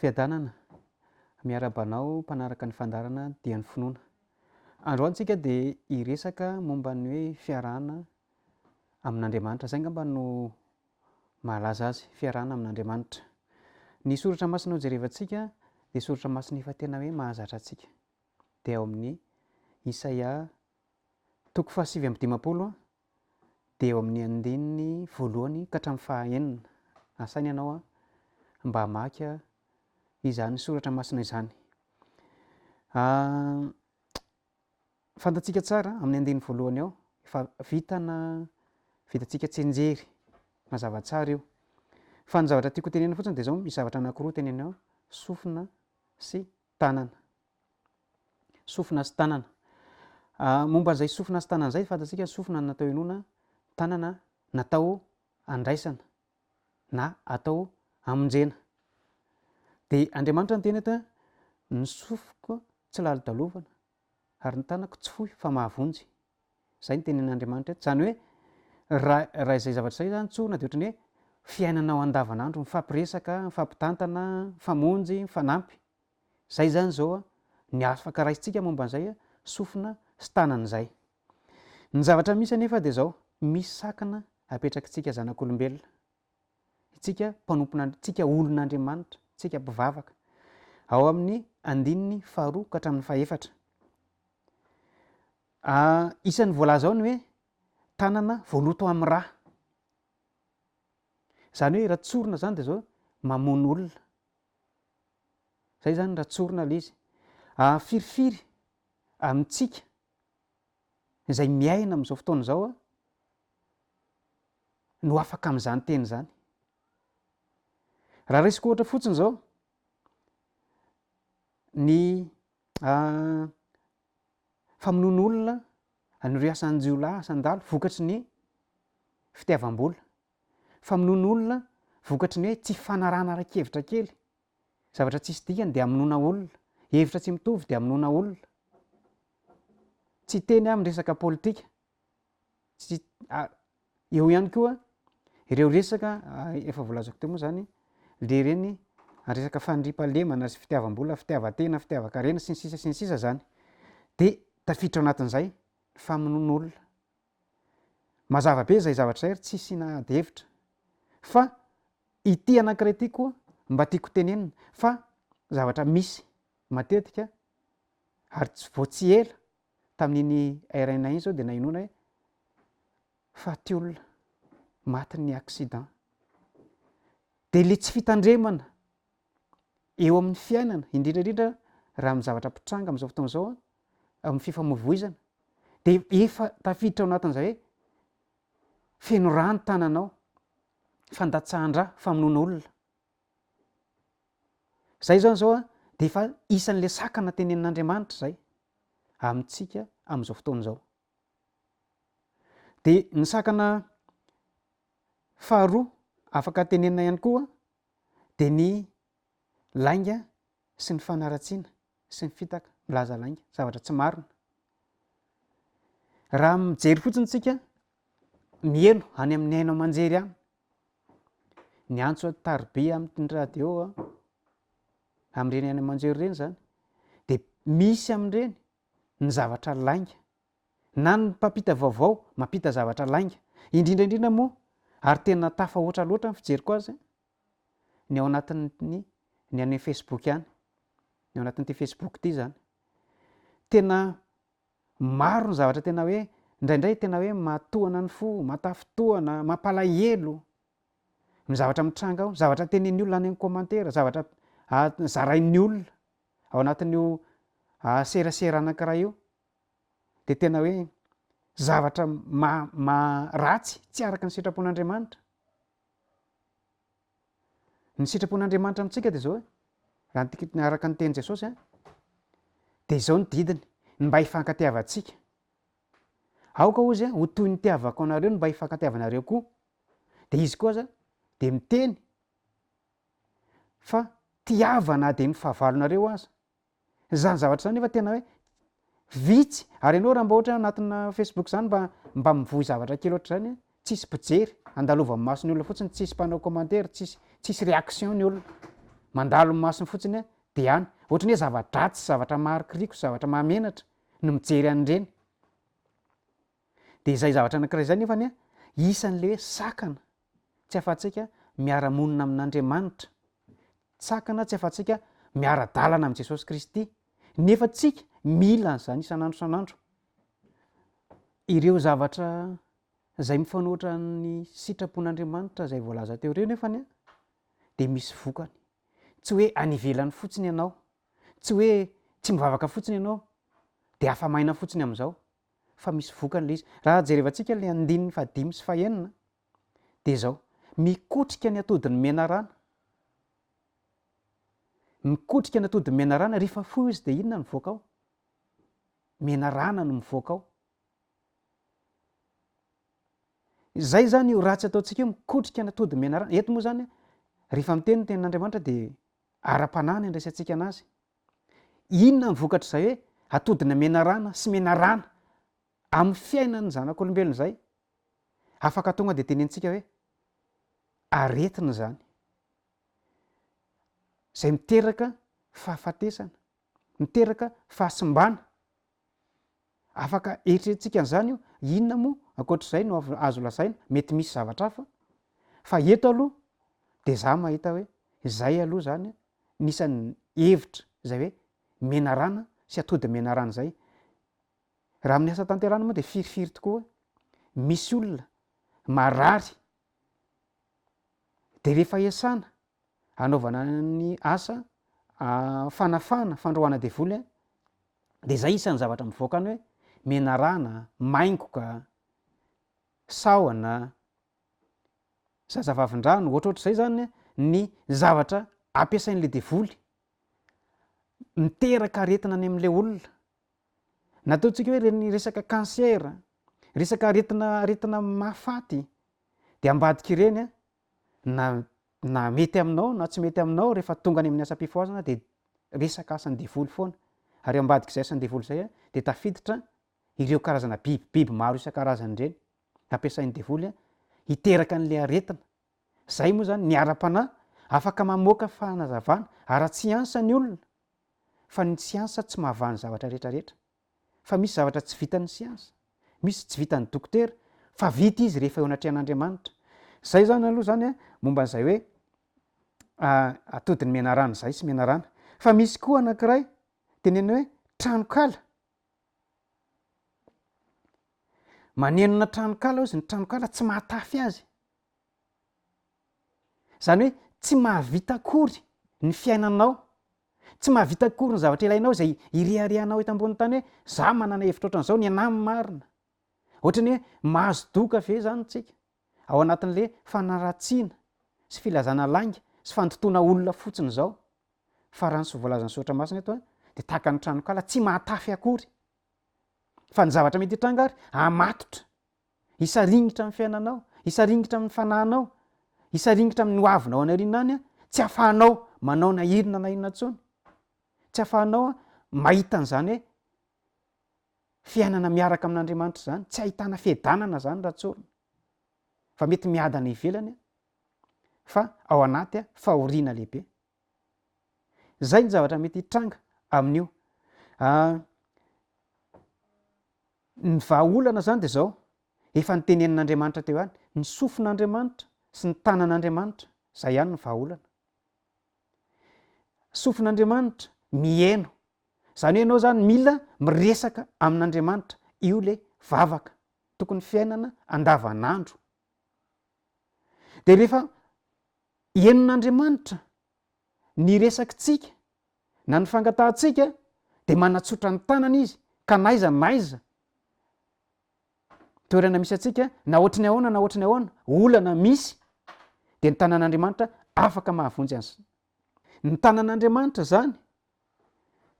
Fiadanana, miarahaba anao mpanaraka ny fandaharana Dian'ny Finoana. Androany tsika dia hiresaka momba ny hoe fiarahana amin'Andriamanitra. Izay angamba no mahalaza azy, fiarahana amin'Andriamanitra. Ny soratra masina hojerevantsika dia soratra masina efa tena hoe mahazatra antsika. dia ao amin'ny Isaia toko fahasivy amby dimampolo dia eo amin'ny andininy voalohany ka hatramin'ny fahaenina. Asaina ianao mba hamaky izany soratra masina izany. Ah, fantatsika tsara amin'ny andininy voalohany ao efa vitana vitantsika tsenjery mazava tsara io fa ny zavatra tiako tenena fotsiny dia izao misy zavatra anankiroa teneny ao sofina sy tanana. Sofina sy tanana. Momba an'izay sofina sy tanana izay, fantatsika ny sofina natao henoana, ny tanana natao handraisana na atao hamonjena. Dia Andriamanitra no teny eto hoe ny sofiko tsy lalodalovana. ary ny tanako tsy fohy fa mahavonjy. Izay ny tenin'Andriamanitra eto. Izany hoe raha raha izay zavatra izay izany tsorina dia ohatran'ny hoe fiainanao andavanandro, mifampiresaka, mifampitantana, mifamonjy, mifanampy. Izay izany izao ny afaka raisintsika momba an'izay sofina sy tanana izay. Ny zavatra misy anefa dia izao, misy sakana apetrakitsika zanak'olombelona Tsika mpanompon' tsika olon' Andriamanitra, tsika mpivavaka. Ao amin' ny andininy faharoa ka hatramin' ny fahefatra. Isan' ny voalaza ao ny hoe tanana voaloto amin' ny ra. Izany hoe raha tsorina izany dia izao mamono olona. Izay izany raha tsorina ilay izy. Firifiry amin-tsika izay miaina amin' izao fotoana izao no afaka amin'izany teny izany. Raha raisiko ohatra fotsiny izao ny ah, famonoan'olona an'ireo asan-jiolahy, asan-dalo vokatry ny fitiavam-bola, famonoan'olona vokatry ny hoe tsy fanarahana ara-kevitra kely, zavatra tsisy dikany dia amonoana olona, hevitra tsy mitovy dia amonoana olona. Tsy teny aho amin'ny resaka politika tsy eo ihany koa ireo resaka efa voalazako teo moa zany le reny resaka fandriampahalemana sy fitiavam-bola fitiavan-tena fitiavan-karena sy ny sisa sy ny sisa zany de tafiditra ao anatin'izay ny famonoan'olona mazava be zay zavatra zay ry tsy asiana ady hevitra fa ity anankiray ity koa mba tiako tenenina fa zavatra misy matetika ary tsy vao tsy ela Tamin'iny RNA iny izao dia nahenoana hoe faty olona, matin'ny accident. Dia ilay tsy fitandremana eo amin'ny fiainana, indrindra indrindra raha amin'ny zavatra mpitranga amin'izao fotoana izao, amin'ny fifamoivoizana, dia efa tafiditra ao anatin'izay hoe feno rà ny tananao, fandatsahan-drà, famonoana olona. Izay izany izao dia efa isan'ilay sakana tenenin'Andriamanitra izay amintsika amin'izao fotoana izao. Dia ny sakana faharoa afaka tenenina ihany koa dia ny lainga sy ny fanaratsiana sy ny fitaka milaza lainga, zavatra tsy marina. Raha mijery fotsiny tsika, mieno any amin'ny haino aman-jery any, niantso an'i Tarbiya amin'ny radio aho amin'ireny haino aman-jery ireny izany dia misy amin'ireny ny zavatra lainga na ny mpampita vaovao mampita zavatra lainga indrindra indrindra moa ary tena tafahoatra loatra ny fijeriko azy ny ao anatin'ny ny an'ny Facebook ihany ny ao anatin'ity Facebook ity izany tena Maro ny zavatra tena hoe indraindray tena hoe mahatohana ny fo, mahatafintohana, mampalahelo ny zavatra mitranga ao, zavatra tenenin'ny olona any amin'ny commentaire, zavatra zarain'ny olona ao anatin'io serasera anankiray io dia tena hoe zavatra ratsy tsy araka ny sitrapon'Andriamanitra. Ny sitrapon'Andriamanitra amintsika dia izao e, raha ny tek- araka ny tenin'i Jesosy a, dia izao ny didiny, ny mba hifankatiavantsika. Aoka hoy izy a, ho toy ny nitiavako anareo ny mba hifankatiavanareo koa. Dia izy koa aza dia miteny fa tiava na dia ny fahavalonareo aza. Zany zavatra zany nefa tena hoe vitsy, ary ianao raha mba ohatra hoe anatina facebook zany mba mba mivoy zavatra kely ohatr'izany tsisy mpijery, andalovan'ny mason'ny olona fotsiny tsisy mpanao commentaire tsisy tsisy réaction ny olona, mandalo ny masony fotsiny a de any, ohatra ny hoe zava-dratsy, zavatra maharikoriko, zavatra mahamenatra no mijery an'ireny. Dia izay zavatra anankiray izay nefa anie isan'ilay hoe sakana tsy afa-tsika miara-monina amin'Andriamanitra, sakana tsy afa-tsika miara-dalana amin'i Jesosy Kristy, nefa tsika mila an'izany isan'andro isan'andro. Ireo zavatra izay mifanoatra ny sitrapon'Andriamanitra izay voalaza teo ireo nefa anie dia misy vokany. Tsy hoe any ivelany fotsiny ianao, tsy hoe tsy mivavaka fotsiny ianao dia afa-maina fotsiny amin'izao, fa misy vokany ilay izy. Raha jerevantsika ilay andininy fahadimy sy fahenina dia izao, mikotrika ny atodin'ny menarana, mikotrika ny atodin'ny menarana, rehefa foy izy dia inona no mivoaka ao? Menarana no mivoaka ao. Izay zany io ratsy ataontsika io mikotrika ny atodin'ny menarana. Eto moa zany rehefa miteny ny tenin'Andriamanitra dia ara-panahy no andraisantsika anazy. Inona ny vokatr'izay hoe atodina menarana sy menarana amin'ny fiainan'ny zanak'olombelona izay? Afaka tonga dia tenentsika hoe aretina izany, izay miteraka fahafatesana, miteraka fahasimbana, Afaka eritreretintsika an'izany io, inona moa ankoatr'izay no azo lazaina, mety misy zavatra hafa, fa eto aloha dia izaho mahita hoe izay aloha izany no isan'ny hevitra izay hoe menarana sy atody menarana izay. Raha amin'ny asa tanterahana moa dia firifiry tokoa hoe misy olona marary Dia rehefa hiasana hanaovana ny asa fanafahana, fandroahana devoly a, dia izay isan'ny zavatra mivoaka ny hoe menarana, maingoka, sahona, zazavavindrano, ohatrohatr'izay izany ny zavatra ampiasain'ilay devoly, miteraka aretina any amin'ilay olona. Nataontsika hoe ny resaka cancer, resaka aretina aretina mahafaty dia ambadik'ireny na na mety aminao na tsy mety aminao rehefa tonga any amin'ny asam-pifohazana dia resaka asan'ny devoly foana ary ao ambadik'izay asan'ny devoly izay dia tafiditra ireo karazana biby biby maro isan-karazany ireny nampiasain'ny devoly hiteraka an'ilay aretina Izay moa izany ny ara-panahy afaka mamoaka fanazavana ara-tsiansa ny olona fa ny tsiansa tsy mahavaha ny zavatra rehetrarehetra fa misy zavatra tsy vitan'ny siansa, misy tsy vitan'ny dokotera fa vita izy rehefa eo anatrehan'Andriamanitra. Izay izany aloha izany a, momba an'izay hoe atodin'ny menarana izay sy menarana. Fa misy koa anankiray tenenina hoe tranonkala. Manenona tranonkala hozy ny tranonkala tsy mahatafy azy. Izany hoe tsy mahavita akory ny fiainanao, tsy mahavita akory ny zavatra ilainao izay ireharehanao eto ambonin'ny tany hoe za manana hevitra ohatran'izao, ny anà marina. Ohatran'ny hoe mahazo doka ve izany tsika? ao anatin'le fanaratsiana sy filazana lainga sy fandotoana olona fotsiny zao fa raha ny so voalazan'ny soratra masina eto dia tahaka ny tranokala tsy mahatafy akory fa ny zavatra mety hitranga ary hamatotra hisaringitra amin'ny fiainanao hisaringitra amin'ny fanahinao hisaringitra amin'ny hoavinao any aoriana any tsy afahanao manao na inona na inona tsony tsy afahanao mahita an'izany hoe fiainana miaraka amin'Andriamanitra izany, tsy ahitana fiadanana izany raha tsorina, fa mety miadana ivelany fa ao anaty fahoriana lehibe. Izay ny zavatra mety hitranga amin'io. Ah, ny vahaolana izany dia izao, efa nitenenin'Andriamanitra teo ihany, ny sofin'Andriamanitra sy ny tanan'Andriamanitra, izay ihany ny vahaolana. Sofin'Andriamanitra miheno Zany hoe enao zany mila miresaka amin'Andriamanitra, io le vavaka tokony fiainana andavanandro. De refa henon'Andriamanitra ny resakitsika na ny fangatahantsika de manatsotra ny tanany izy ka n'aiza n'aiza toerana misy antsika na ohatry ny ahoana na ohatry ny ahoana olana misy de ny tanan'Andriamanitra afaka mahavonjy an'zay Ny tanan'Andriamanitra izany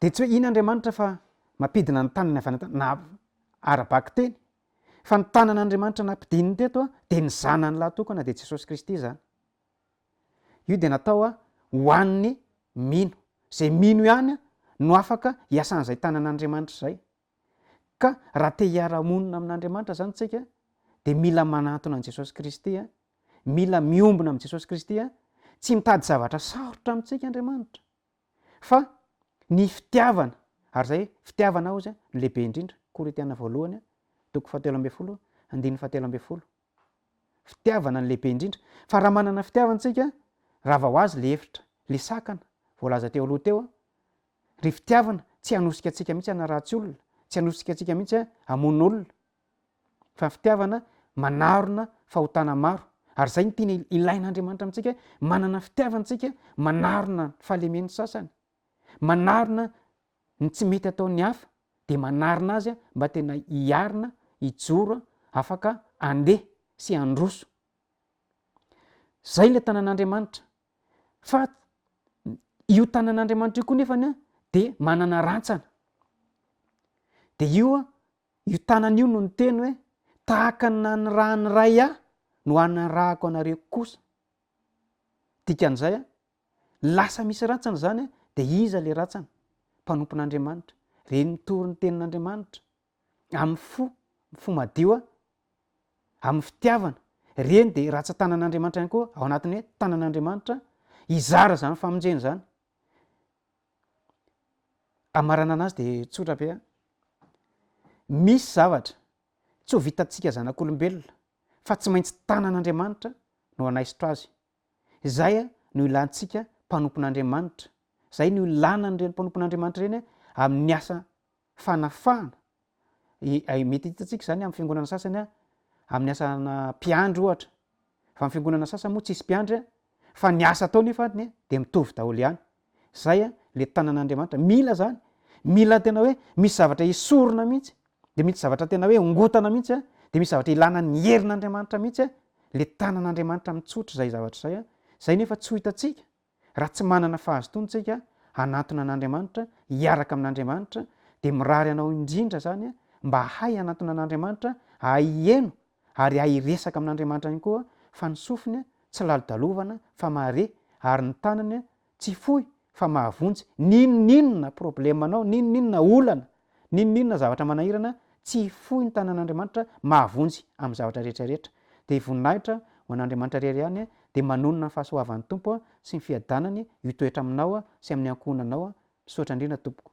dia tsy hoe iny Andriamanitra fa mampidina ny tanany avy any an-tany na ara-bakiteny fa ny tanan'Andriamanitra nampidininy teto dia ny Zanany lahatokana dia Jesosy Kristy izany. Io dia natao ho an'ny mino. Izay mino ihany no afaka hiasan'izay tanan'Andriamanitra izay. Ka raha te hiara-monina amin'Andriamanitra izany tsika dia mila manantona an'i Jesosy Kristy, mila miombona amin'i Jesosy Kristy, tsy mitady zavatra sarotra amintsika Andriamanitra fa ny fitiavana, ary izay fitiavana hozy no lehibe indrindra, Korintiana voalohany toko fahatelo ambin'ny folo andininy fahatelo ambin'ny folo. Fitiavana no lehibe indrindra. Fa raha manana fitiavana tsika, rava ho azy le efitra, le sakana, voalaza teo aloha teo, ry fitiavana tsy hanosika antsika mihitsy hanaratsy olona, tsy hanosika antsika mihitsy hamono olona, fa fitiavana manarona fahotana maro, ary zay no tena ilain'Andriamanitra amintsika hoe, manana fitiavana tsika manarona ny fahalemen'ny sasany. manarina ny tsy mety ataon'ny hafa dia manarina azy mba tena hiarina, hijoro, afaka handeha sy handroso. Izay ilay tanan'Andriamanitra. Fa io tanan'Andriamanitra io koa nefany a dia manana rantsana. Dia io a, io tanana io no niteny hoe tahaka ny nanirahan'ny ray ahy no hanirahako anareo kosa. Dikan'izay a, Lasa misy rantsana izany an, dia iza ilay rantsana? Mpanompon'Andriamanitra. Reny mitory ny tenin'Andriamanitra amin'ny fo, amin'ny fo madio an, amin'ny fitiavana. Reny dia rantsan-tanan'Andriamanitra ihany koa, ao anatin'ny hoe tanan'Andriamanitra hizara izany famonjena izany. Amaranana azy dia tsotra be an. Misy zavatra tsy ho vitantsika zanak'olombelona fa tsy maintsy tanan'Andriamanitra no hanaisotra azy. Izay no ilantsika mpanompon'Andriamanitra, izay no ilanan'ireny mpanompon'Andriamanitra ireny amin'ny asa fanafahana. Mety hitantsika izany amin'ny fiangonana sasany amin'ny asana mpiandry ohatra, fa amin'ny fiangonana sasany moa tsisy mpiandry fa ny asa atao nefa dia mitovy daholo ihany. zay a le tanan'Andriamanitra mila zany mila tena hoe misy zavatra esorina mihitsy de mitsy zavatra tena hoe ongotana mihitsy a de misy zavatra ilana ny herin'Andriamanitra mihitsy a le tanan'Andriamanitra mitsotra zay zavatra zay a zay nefa tsy ho hitantsika raha tsy manana fahazotoana tsika hanatona an'Andriamanitra hiaraka amin'Andriamanitra de mirary anao indrindra zany a mba hay hanatona an'Andriamanitra ahay hieno ary hay hiresaka amin'Andriamanitra ihany koa fa ny sofiny tsy lalodalovana fa mahare ary ny tanany tsy fohy fa mahavonjy n'inon'inona problemanao, n'inon'inona olana, n'inon'inona zavatra manahirana, tsy fohy ny tanan'Andriamanitra, mahavonjy amin'ny zavatra rehetra rehetra. Dia voninahitra ho an'Andriamanitra irery ihany, dia manonona ny fahasoavan'ny Tompo sy ny fiadanany hitoetra aminao sy amin'ny ankohonanao Misaotra indrindra tompoko.